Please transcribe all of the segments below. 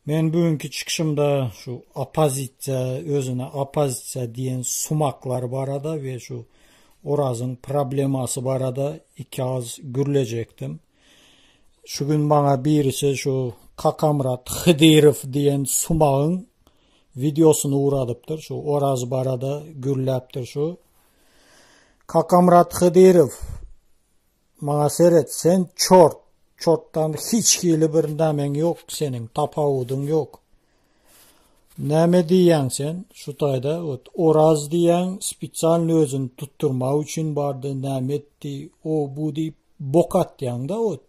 Men bu günki çykyşymda şu opozisiýa, özüne opozisiýa diýen sumaklar barada we şu Orazyň problemasy barada iki agyz gürlejekdim. Şu gün maňa birisi şu Kakamyrat Hydyrow diýen sumagyň wideosyny ugradypdyr. Şu Oraz barada gürläpdir şu. Kakamyrat Hydyrow Maňa seret, sen çort, çortdan hiç hili bir nämeň ýok seniň, tapawudyň ýok. Näme diýýäň sen şu taýda, ot, Oraz diýýäň spesialny özüni tutdurmak üçin bardy, näme etdi, o, bu diýip bok atýaň-da, ot.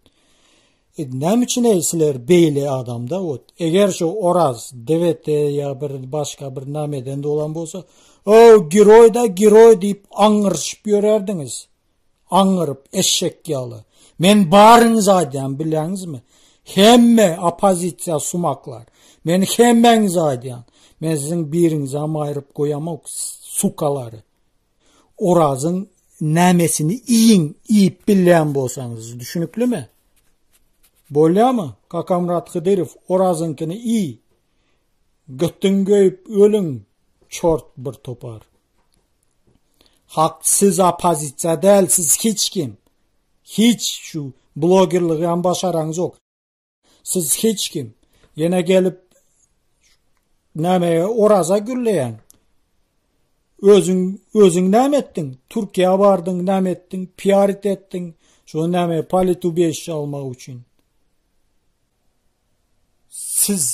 E, näme üçin eý sizler beýle adam-da, ot. Eger şu Oraz DVT ýa bir başga bir nämeden dolan bolsa, o, giroý-da, giroý diýip aňňyryşyp ýörerdiňiz. Aňňyryp, eşek ýaly. Men baryňyzy aýdýan, bilýäňizmi? Hemme oppozisiýa sumaklar. Men hemmäňize aýdýan. Men siziň biriňizem aýryp goýamok, sukalary. Orazyň nämesini iýiň, iýip bilýän bolsaňyz, düşüniklimi? Bolýamy? Kakamrat Hydyrow, Orazyňkyny iý. Götüň göýüp ölüň, çort bir topar. Hak siz opozisiýa däl siz hiç kim. Hiç şu blogerligi hem başaraňyz ýok. Siz hiç kim. Ýene gelip näme oraza gülleýäň. Özüň özüň näme etdiň? Türkiýä bardyň, näme etdiň? PR etdiň. Şu näme politubişi almak üçin. Siz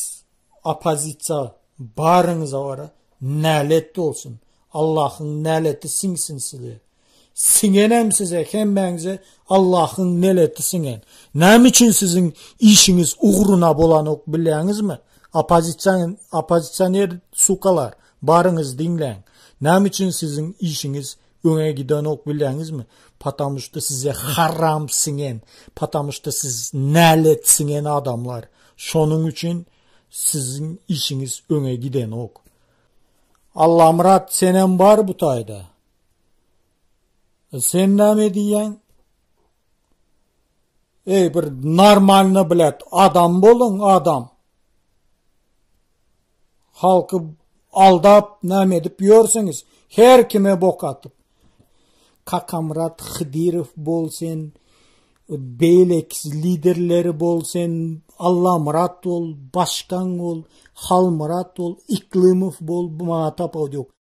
opozisiýa baryňyza gara nälet bolsun. Allahyň näleti siňsin size. Siňenem size hemmäňize Allahyň neleti siňen. Näme üçin siziň işiňiz ugruna bolanok bilýäňizmi? Opozisiýan opozisiýoner sukalar baryňyz diňläň. Näme üçin siziň işiňiz Öňe gidenok bilýäňizmi? Patamuşda size haram siňen, patamuşda siz nälet siňen adamlar. Şonuň üçin siziň işiňiz öňe gidenok. Allamyrat senem bar bu taýda. Sen näme diýýäň? Ey bir normalny bilet adam bolun adam. Halky aldap näme edip ýörsüňiz? Her kime bok atyp. Kakamrat Hıdyrov bol sen, beýlek liderleri bol sen, Allah Murat bol, başkan bol, Hal Murat bol, Iklimow bol, bu maňa tapawut ýok.